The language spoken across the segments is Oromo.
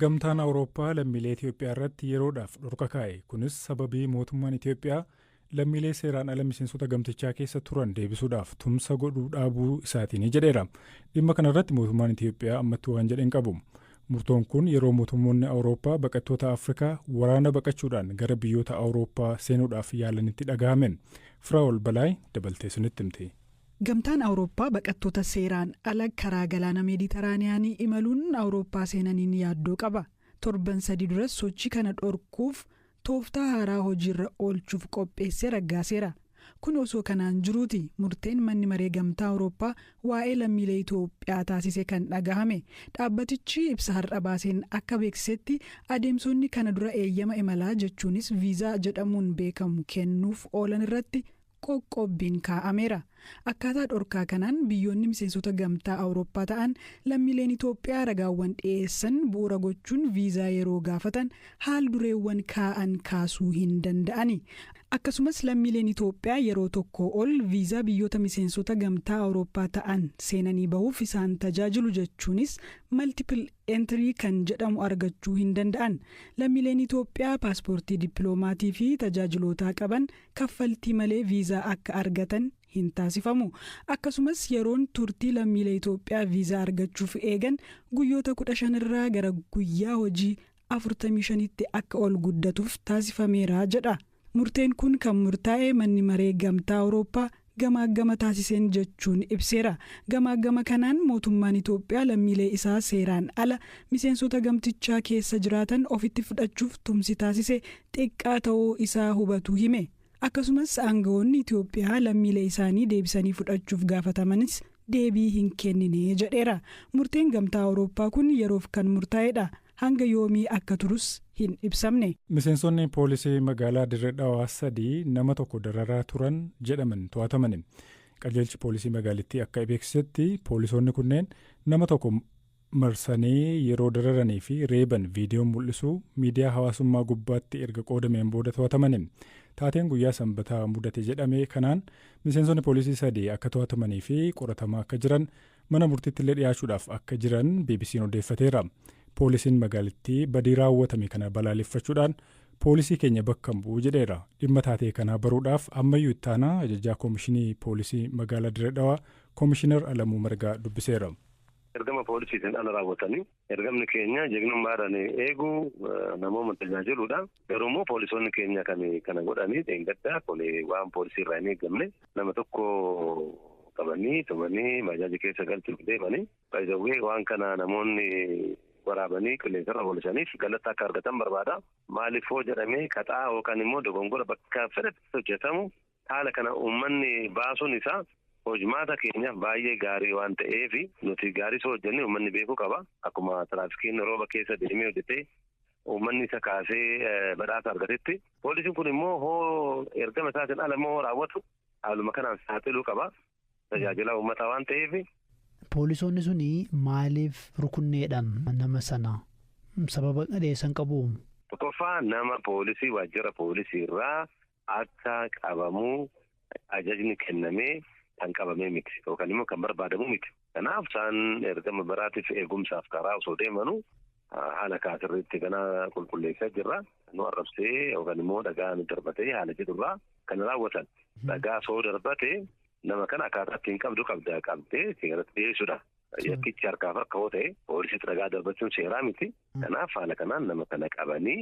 Gamtaan Awurooppaa lammiilee Itoophiyaa irratti yeroodhaaf dhorka kaa'e. Kunis sababii mootummaan Itoophiyaa lammiilee seeraan ala miseensota gamtichaa keessa turan deebisuudhaaf tumsa godhuu dhaabuu isaatiini jedheera. Dhimma kana irratti mootummaan Itoophiyaa ammatti waan jedhe hin qabu. Murtoon kun yeroo mootummoonni Awurooppaa baqattoota Afrikaa waraana baqachuudhaan gara biyyoota Awurooppaa seenuudhaaf yaalanitti dhagahame. Firaa'ol Balaay dabaltee isinitti himti. Gamtaan Awurooppaa baqattoota seeraan ala karaa galaana Meeditaraaniyaanii imaluun Awurooppaa seenaniin yaaddoo qaba. Torban sadii duras sochii kana dhorkuuf tooftaa haaraa hojiirra oolchuuf qopheessee raggaaseera. Kun osoo kanaan jiruuti murteen Manni Maree Gamtaa Awurooppaa waa'ee lammiilee Itoophiyaa taasise kan dhagahame. Dhaabbatichi ibsa har'a baaseen akka beeksisetti adeemsonni kana dura eeyyama imalaa jechuunis viizaa jedhamuun beekamu kennuuf oolan irratti qoqqobbiin kaa'ameera. Akkaataa dhorkaa kanaan biyyoonni miseensota Gamtaa Awurooppaa ta'an lammiileen Itoophiyaa ragaawwan dhiyeessan bu'uura gochuun viizaa yeroo gaafatan haal-dureewwan kaa'an kaasuu hin danda'ani. Akkasumas lammiileen Itoophiyaa yeroo tokkoo ol viizaa biyyoota miseensota Gamtaa Awurooppaa ta'an seenanii bahuuf isaan tajaajilu jechuunis Multiple Entry kan jedhamu argachuu hin danda'an. Lammiileen Itoophiyaa paaspoortii dippiloomaatii fi tajaajilootaa qaban kaffaltii malee viizaa akka argatan hin taasifamu. Akkasumas yeroon turtii lammiilee Itoophiyaa viizaa argachuuf eegan guyyoota 15 irraa gara guyyaa hojii 45tti akka ol guddatuuf taasifameera jedha. Murteen kun kan murtaa'e Manni Maree Gamtaa Awurooppaa gamaaggama taasiseen jechuun ibseera. Gamaaggama kanaan mootummaan Itoophiyaa lammiilee isaa seeraan ala miseensota gamtichaa keessa jiraatan ofitti fudhachuuf tumsi taasise xiqqaa ta'uu isaa hubatuu hime. Akkasumas aanga'oonni Itoophiyaa lammiilee isaanii deebisanii fudhachuuf gaafatamanis deebii hin kennine jedheera. Murteen Gamtaa Awurooppaa kun yeroof kan murtaa'edha. hanga yoomii akka turus hin ibsamne. Miseensonni poolisii magaalaa Dirre Dhawaa sadii nama tokko dararaa turan jedhaman to'atamani. Qajeelchi poolisii magaalittii akka ibeeksisetti poolisoonni kunneen nama tokko marsanii yeroo dararanii fi reeban viidiyoon mul'isu miidiyaa hawaasummaa gubbaatti erga qoodameen booda to'atamani. Taateen guyyaa Sanbataa mudate jedhame kanaan miseensonni poolisii sadii akka to'atamanii fi qoratamaa akka jiran mana murtiittillee dhiyaachuudhaaf akka jiran BBC'n odeeffateera. Poolisiin magaalittii badii raawwatame kana balaaleffachuudhaan poolisii keenya bakka hin bu'u jedheera. Dhimma taatee kanaa baruudhaaf ammayyuu ittaanaa ajajaa koomishinii poolisii magaalaa Dirree Dhawaa koomishinar Alamuu Margaa dubbiseera. Ergama poolisiitiin ala raawwatanii Ergamni keenya jagnummaadhaan eeguu, namooma tajaajiluudha. Garuummoo poolisoonni keenya kan kana godhanii dheengaddaa waan poolisii irraa hin eegamne nama tokko qabanii tumanii baajaaji keessa galchuuf deemanii by the way waan kana namoonni waraabanii qilleensarra oolisaniif galata akka argatan barbaada. Maaliifoo jedhamee qaxaa yookaan immoo dogongora bakka fedhetti hojjetamu Haala kana uummanni baasuun isaa hojmaata keenyaaf baay'ee gaarii waan ta'eef nuti gaarii osoo hojjennee uummanni beekuu qaba. Akkuma tiraafikiin rooba keessa deemee hojjetee uummanni isa kaasee badhaasa argatetti poolisiin kun immoo hoo ergama isaatiin ala immoo hoo raawwatu haaluma kanaan saaxiluu qaba. Tajaajilaa uummataa waan ta'eef. Poolisoonni suni maaliif rukunneedha nama sana? Sababa dhiyeessan qabu? Tokkoffaa nama poolisii waajjira poolisii irraa akka qabamu ajajni kennamee kan qabamee miti yookaan immoo kan barbaadamu miti. Kanaaf isaan ergama biraatiif eegumsaaf karaa osoo deemanu haala kaasirriitti kana qulqulleessaa jirra. Nu arrabsee yookaan immoo dhagaa nu darbatee haala jedhurraa kan raawwatan. Dhagaa osoo darbate nama kana akkaataa ittiin qabdu qabda qabdee seeratti dhiyeessuudha. Yakkichi harkaaf harka yoo ta'e poolisiitti dhagaa darbachuun seeraa miti. Kanaaf haala kanaan nama kana qabanii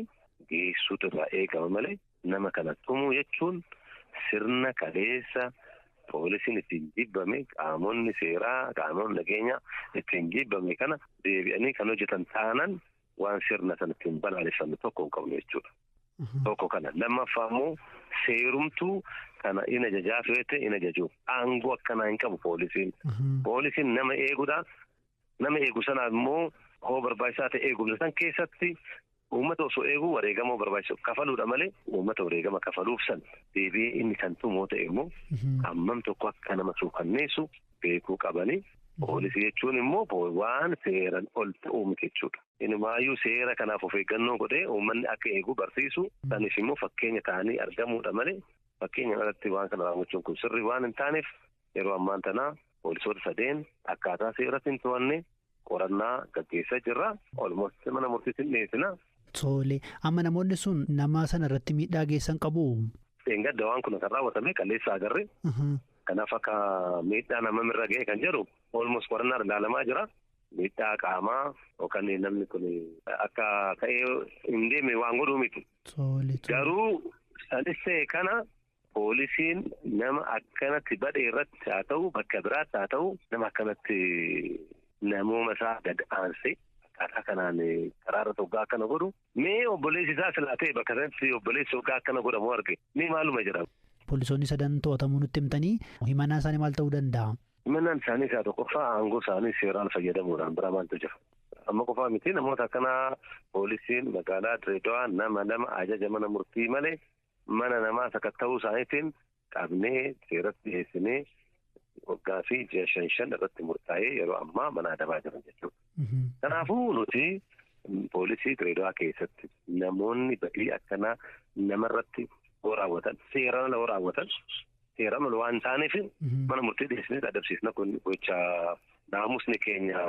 geessuutu irraa eegama malee Nama kana tumuu jechuun sirna kaleessa poolisiin ittiin jibbame, qaamonni seeraa, qaamonni nageenyaa ittiin jibbame kana deebi'anii kan hojjetan taanan waan sirna sana ittiin balaaleffannu tokko hin qabnu jechuudha. Tokko kana. Lammaffaa immoo seerumtuu kana in ajajaa feete in ajaju. Aangoo akkanaa hin qabu poolisiin. Poolisiin nama eegudha. Nama eegu sanaaf immoo hoo barbaachisaa ta'e eegumsa san keessatti Uummata osoo eeguu wareegama barbaachisu kafaluudha malee uummata wareegama kafaluuf san deebi'ee inni kan tumu yoo ta'e immoo hammam tokko akka nama suukanneessu beekuu qabanii poolisii jechuun immoo waan seeran ol ta'uu miti jechuudha. Inumaayyuu seera kanaaf of eeggannoo godhee uummanni akka eegu barsiisu sanis immoo fakkeenya ta'anii argamuudha malee fakkeenya irratti waan kana raawwachuun kun sirrii waan hin taaneef yeroo ammaan tanaa poolisoota sadeen akkaataa seeratti hin to'anne Qorannaa gaggeessaa jirra. Almost mana murtiitti hin dhiyeessina. Tole, amma namoonni sun nama sana irratti miidhaa geessan qabuu? Dheengadda waan kun kan raawwatame qalleessa agarre. Kanaaf akka miidhaa namam irra ga'e kan jedhu almost qorannaan ilaalamaa jira. Miidhaa qaamaa yookaan namni kun akka ka'ee hin deemne waan godhuu miti. Garuu sanis ta'e kana Poolisiin nama akkanatti badhe irratti haa ta'u bakka biraatti haa ta'u nama akkanatti namooma isaa gad aansee akkaataa kanaan karaa irratti hoggaa akkana godhu mee obboleessi isaa silaa ta'e bakka sanatti obboleessi hoggaa akkana godhamu arge mee maaluma jedhama. Poolisoonni sadan to'atamuu nutti himtanii himannaan isaanii maal ta'uu danda'a? Himannaan isaanii isaa tokkoffaa aangoo isaanii seeraan fayyadamuudhaan biraa maaltu jira? Amma qofaa miti namoota akkanaa poolisiin magaalaa Dirreedawaa nama lama ajaja mana murtii malee mana namaa sakatta'uu isaaniitiin qabnee seeratti dhiyeessinee waggaa fi ji'a shan shan irratti murtaa'ee yeroo ammaa mana adabaa jiran jechuudha. Kanaafuu nuti poolisii Dirreedawaa keessatti namoonni badii akkanaa namarratti yoo raawwatan seeraan ala yoo raawwatan seeraan ala waan taaneef mana murtii dhiyeessinee adabsiisna kun gocha naamusni keenya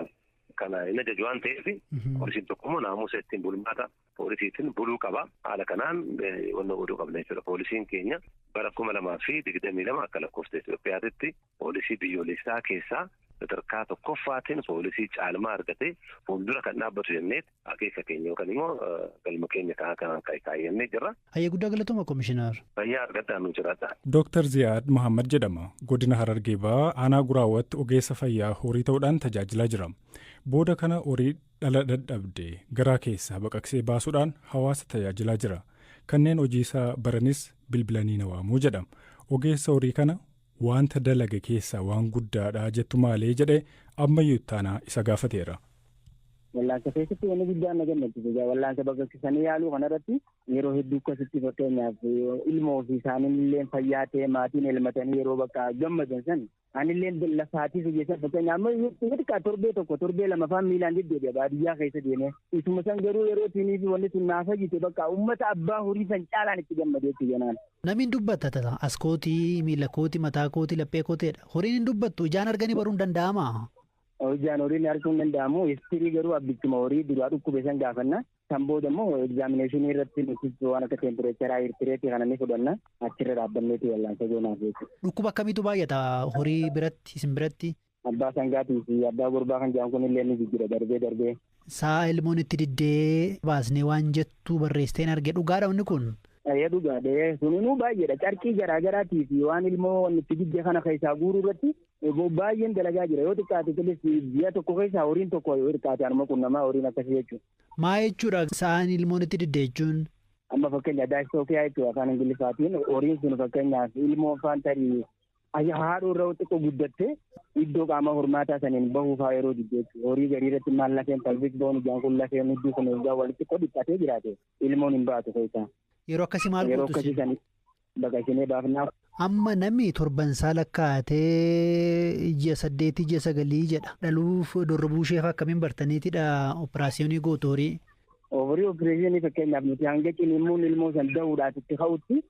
kana hin ajaju waan ta'eef poolisiin tokko immoo naamusa ittiin bulmaata poolisiitiin buluu qaba. Haala kanaan wanna godhuu qabna jechuudha. Poolisiin keenya bara kuma lamaa fi digdamii lama akka lakkoofsa Itoophiyaatitti poolisii biyyoolessaa keessaa sadarkaa tokkoffaatiin poolisii caalmaa argatee fuuldura kan dhaabbatu jennee akeeka keenya yookaan immoo galma keenya kaa'aa kanaan kan kaayyannee jirra. Hayyee guddaa galatooma komishinar. Fayyaa argadhaa nu jiraadha. Dooktar Ziyaad Muhammad jedhama. Godina Harargee Bahaa aanaa Guraawatti ogeessa fayyaa horii ta'uudhaan tajaajilaa jira. Booda kana horii dhala dadhabde garaa keessaa baqaqsee baasuudhaan hawaasa tajaajilaa jira. Kanneen hojiisaa baranis bilbilanii na waamu jedha. Ogeessa horii kana waanta dalage keessaa waan guddaadha jettu maalee jedhee ammayyuu ittaanaa isa gaafateera. Wallaansa keessatti wanni guddaan na gammachiise jaa wallaansa baqaqsisanii yaaluu kanarratti yeroo hedduu akkasitti fakkeenyaaf ilmoo fi isaaniin illee fayyaa ta'e maatiin elmatanii yeroo bakka gammadan san Anilleen lafaatii biyya san fakkeenyaaf amma yoo xiqqaa torbee tokko torbee lama faan miilaan deddeebi'a baadiyyaa keessa deemee isuma san garuu yeroo siinii fi wanni sun naa fayyite bakka uummata abbaa horii san caalaan itti gammade jechuudha jenaan. Namiin dubbata tata as kooti miila kooti mataa kooti laphee kooti jedha horiin hin dubbattu ijaan arganii baruun danda'amaa? Ijaan horiin arguun danda'amu istirii garuu abbichuma horii duraa dhukkube san gaafanna Kan booda immoo egzaamineeshinii irratti nutis waan akka teempireecharaa, hiirtireetii kana ni fudhanna. Achirra dhaabbanneeti wallaansa goonaaf jechuudha. Dhukkuba akkamiitu baay'ata horii biratti, isin biratti? Abbaa sangaatii fi abbaa gurbaa kan jedhan kun illee ni jijjira darbee darbee. Sa'a ilmoon itti diddee baasnee waan jettu barreessiteen arge dhugaadha wanni kun? Eeyyee dhugaadha. Suninuu baay'eedha. Carqii garaa garaatii fi waan ilmoo wanni itti didde kana keessaa guuruu irratti Eeboo baay'een dalagaa jira yoo xiqqaate tilis ji'a tokko keessaa horiin tokko yoo xiqqaate anuma qunnamaa horiin akkasii jechuudha. Maa jechuudha sa'aan ilmoon itti didde jechuun? Amma fakkeenya daayistookiyaa jechuudha afaan ingiliffaatiin horiin sun fakkeenyaaf ilmoo faan tarii ayya haadhoo irra xiqqoo guddatte iddoo qaama hormaataa saniin bahuu faa yeroo didde jechuudha. Horii garii irratti maal lafeen palvik boon ijaan kun lafeen hudduu kun egaa walitti xiqqoo dhiphatee jiraate ilmoon hin baatu keessaa. Yeroo akkasii maal Yeroo gootu akkasii isin? sani Baga isinee baafnaa. Amma nami torban isaa lakkaa'atee ji'a saddeetii ji'a sagalii jedha. Dhaluuf dorrobuu isheefaa akkamiin bartaniitidha operaasiyoonii gootu horii? Horii opereeshinii fakkeenyaaf nuti hanga ciniinsuun ilmoo san da'uudhaaf itti ka'utti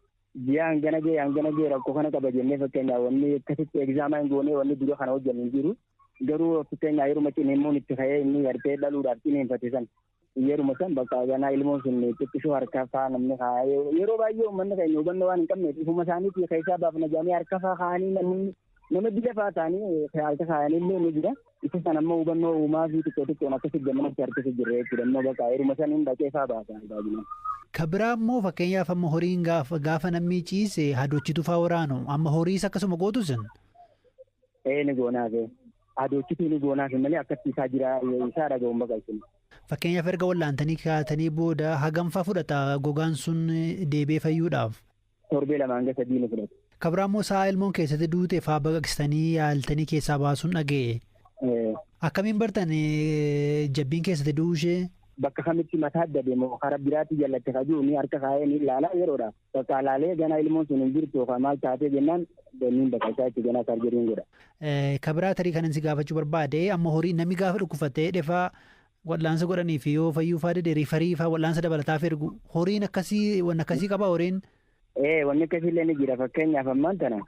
ji'a hangana ga'e hangana ga'e rakkoo kana qaba jennee fakkeenyaaf wanni akkasitti egzaamaan goonee wanni dura kana hojjennu hin jiru. Garuu fakkeenyaaf yeruma ciniinsuun itti ka'ee inni gartee dhaluudhaaf ciniinfate san Yeruma san bakka ganaa ilmoon sun xiqqishoo harka faa namni kaa yeroo baay'ee uummanni keenya hubannoo waan hin qabneef ifuma isaaniitii keessaa baafna jedhanii harka faa kaa'anii namni nama dila faa ta'anii harka kaa'anii illee ni jira. Isa san ammoo hubannoo uumaa fi xiqqoo xiqqoon akkasi gammanatti harkisa jirre jechuudha. Immoo bakka yeruma san hin dhaqee faa baasa baay'inaan. Ka biraa immoo fakkeenyaaf amma horiin gaafa namni ciise hadochitu faa waraanu amma horiis akkasuma gootu sin. Ee ni goonaa kee. Adoochituu ni goonaa kee malee akkatti isaa jiraa isaa dhaga'uun baqa isin. Fakkeenyaaf erga wal'aantanii kaatanii booda hagamfaa fudhata gogaan sun deebi'ee fayyuudhaaf? Torbee lama hanga sadii ni fudhata. Kabraa immoo sa'a ilmoon keessatti duute faa baqaqsitanii yaaltanii keessaa baasuun dhaga'e. Akkamiin bartan jabbiin keessatti du'uu ishee? Bakka kamitti mataa dabe moo karaa biraatti jallatte ka jiru ni harka kaa'ee ni ilaala yeroodhaaf. Bakka alaalee ganaa ilmoon sun hin jirtu yookaan maal taatee jennaan danniin bakka isaa itti ganaa sarjeriin godha. Kabiraa tarii kanan si gaafachuu barbaade amma horii namni gaafa dhukkubfatee dhefaa wal'aansa godhanii fi yoo fayyuu faa dide riifarii faa wal'aansa dabalataaf ergu horiin akkasii wanni akkasii qaba horiin. Ee wanni akkasii illee ni jira fakkeenyaaf ammaan tana.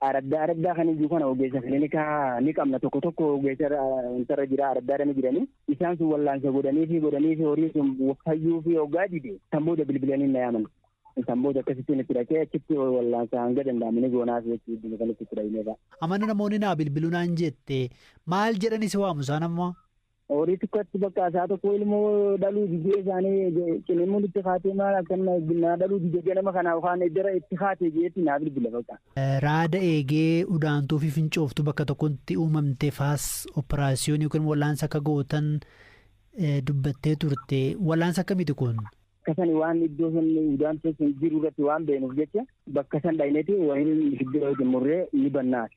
araddaa araddaa kan iyyuu kana ogeessa kilinikaa ni qabna tokko tokko ogeessa wantarra jira araddaadha ni jiranii isaan sun wallaansa godhanii fi godhanii fi horiin sun fayyuu fi hoggaa dide kan booda bilbilanii na yaaman kan booda akkasittiin itti dhaqee achitti wallaansa hanga danda'amu ni goonaaf jechuudha kan itti dhaqneedha. Amana namoonni naa bilbiluu naan jette maal jedhani si waamu isaan ammoo? Horii xiqqatti bakka isaa tokko ilmoo dhaluu didee isaanii cinimuun itti kaatee maal akkana naa dhaluu dide ganama kanaa kaan eddara itti kaatee jeetti naa bilbila bakka. Raada eegee udaantuu fi fincooftuu bakka tokkotti uumamte faas operaasiyoon yookiin wallaansa akka gootan dubbattee turte. Wallaansa akkamiiti kun? Bakka sani waan iddoo sanni udaantuu sun jiru irratti waan beenuuf jecha bakka san dhayneti wahin iddoo murree ni bannaati.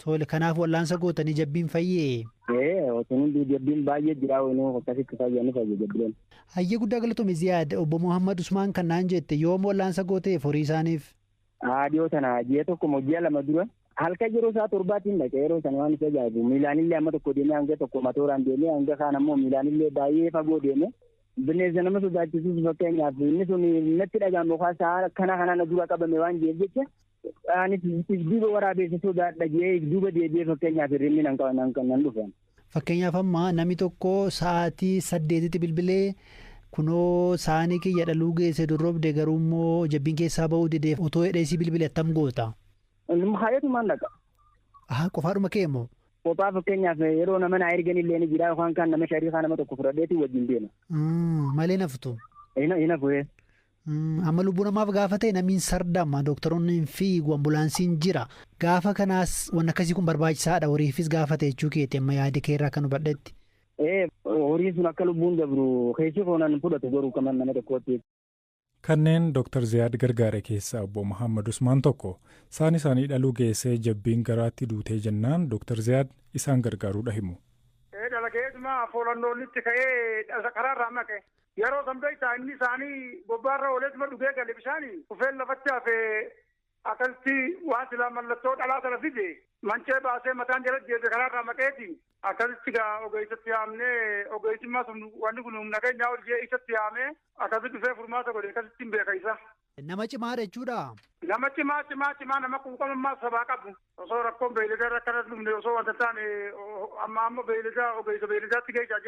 Tole kanaaf wal'aansa gootanii jabbiin fayyee? Ee otoo hunduu jabbiin baay'ee jiraa waynoo akkasitti fayya ni fayya jabbileen. Hayyee guddaa galatoomi Ziyaad obbo Muhammad Usmaan kan naan jette yoom wal'aansa gooteef horii isaaniif? Haa dhiyoo tana ji'a tokko moo ji'a lama dura halkan yeroo isaa torbaatiin dhaqe yeroo sana waan isa ajaa'ibu miilaanillee amma tokko deemee hanga tokko matooraan deemee hanga kaan ammoo miilaanillee baay'ee fagoo deemee bineensa nama sodaachisus fakkeenyaaf inni sun natti dhaga'amu kaa sa'a kana kana na dura qabame waan jireef jecha Anis if duuba waraabeessa sodaadha jee if duuba deebi'ee fakkeenyaaf hirribni nan qaba- nan- nan dhufa. Fakkeenyaaf amma nami tokko sa'aatii saddeetitti bilbilee kunoo saanii kiyya dhaluu geesse dorrobde garuu immoo jabbiin keessaa ba'uu dide otoo hidhee si bilbile attam goota. Inni haayatumaan dhaqa. Aha qofaadhuma kee immoo. Kophaa fakkeenyaaf yeroo nama naa ergan illee ni jira yookaan kan nama shariikaa nama tokko fudhadheetu wajjin deema. Mm, Malee naftu. Hina hina fuhee. Amma lubbuu namaaf gaafa ta'e namiin sardama dooktaroonni hin fiigu ambulaansiin jira gaafa kanaas waan akkasii kun barbaachisaadha horiifis gaafa ta'e jechuu keeti amma yaada kee irraa kan hubadhetti. Ee horiin sun akka lubbuun dabru keessi koonaan fudhatu garuu qaman nama tokkootti. Kanneen Dr. Ziyaad gargaare keessaa obbo Muhammad Usmaan tokko. Saan isaanii dhaluu geessee jabbiin garaatti duutee jennaan Dr. Ziyaad isaan gargaaruudha himu. Ee dalageetuma foolannoonitti ka'ee karaarraa maqe. Yaroo san beektaa inni isaanii bobbaa irra ooleetuma dhugee gale bishaani kufeen lafatti hafe akkasitti waan silaa mallattoo dhalaa sana fide mancee baasee mataan jala deebi'e karaa irraa maqeeti akkasitti gaa ogeessatti yaamnee ogeessimmaa sun wanni kun humna keenyaa ol jee isatti yaamee akkasitti dhufee furmaata godhe akkasitti hin beeka isa. Nama cimaadha jechuudhaa? Nama cimaa cimaa cimaa nama quuqamummaa sabaa qabu. Osoo rakkoon beeyladaa irra akkana dhumne osoo wanta taane amma amma beeyladaa ogeessa beeyladaatti geessaa